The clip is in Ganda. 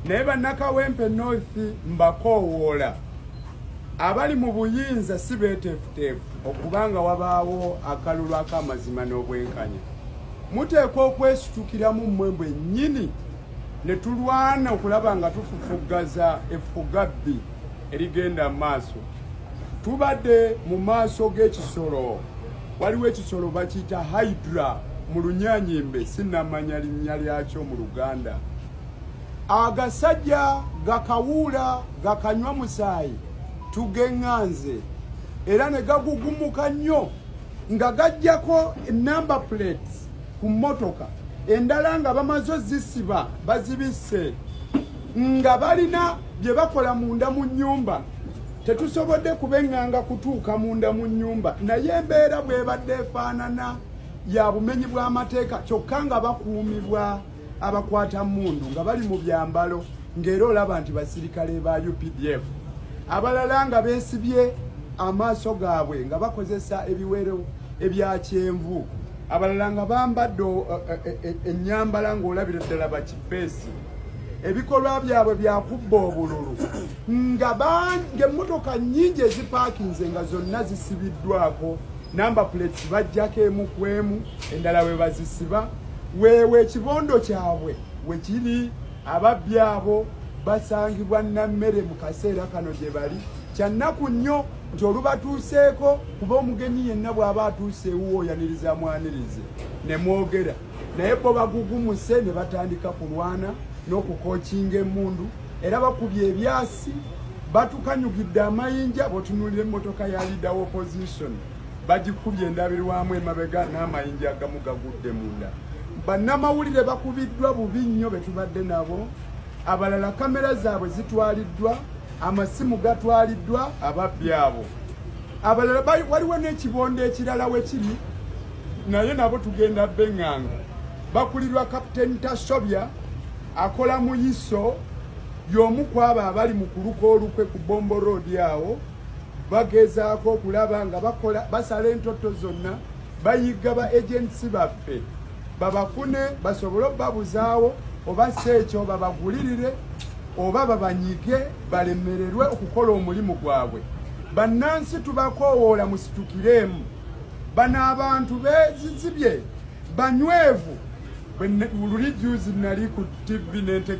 naye bannakawempe north mbakoowoola abali mu buyinza si beeteefuteefu okuba nga wabaawo akalulu ak'amazima n'obwenkanya muteekwa okwesitukiramu mmwe mbwe nnyini ne tulwana okulaba nga tufufuggaza effugabbi erigenda mu maaso tubadde mu maaso g'ekisolo waliwo ekisolo bakiyita hydra mu lunyanyimbe sinamanya linnya lyakyo mu luganda agasajja gakawuula gakanywa musaayi tugeŋŋanze era ne gagugumuka nnyo nga gajjako enamba plates ku mmotoka endala nga bamaze ozisiba bazibisse nga balina bye bakola munda mu nnyumba tetusobodde kubeŋŋanga kutuuka munda mu nnyumba naye embeera bw'ebadde efaanana ya bumenyi bw'amateeka kyokka nga bakuumibwa abakwata mmundu nga bali mu byambalo ng'era olaba nti basirikale ba updf abalala nga beesibye amaaso gaabwe nga bakozesa ebiwero ebya kyenvu abalala nga bambadde eh, eh, eh, ennyambala ng'olabira ddala bakifeesi ebikolwa byabwe byakubba obululu nga bange emmotoka nyingi ezipaakinze nga zonna zisibiddwako namba plates bajjako emu ku emu endala we bazisiba weewe ekibondo kyabwe we kiri ababbi abo basangibwa nammere mu kaseera kano gye bali kyannaku nnyo nti olubatuuseeko kuba omugenyi yenna bw'aba atuuse ewuwo oyaniriza mwanirize ne mwogera naye bo bagugumuse ne batandika kulwana n'okukokinga emundu era bakubye ebyasi batukanyugidde amayinja botunulira emmotoka ya leader wa opposition bagikubye endabirwamu emabega n'amayinja agamu gagudde munda bannamawulire bakubiddwa bubi nnyo betubadde nabo abalala kamera zaabwe zitwaliddwa amasimu gatwaliddwa ababbi abo abalala waliwo n'ekibondo ekirala wekiri naye nabo tugenda benganga bakulirwa kapiteni tasobya akola mu iso y'omu ku abo abali mu kuluka olukwe ku bombo road awo bagezaako okulaba nga bakola basala entoto zonna bayigga ba agensi baffe babafune basobole okubabuzaawo oba si ekyo babagulirire oba babanyige balemererwe okukola omulimu gwabwe bannansi tubakoowoola musitukireemu bano abantu bezizibye banywevu luli juzi nali ku tv nentege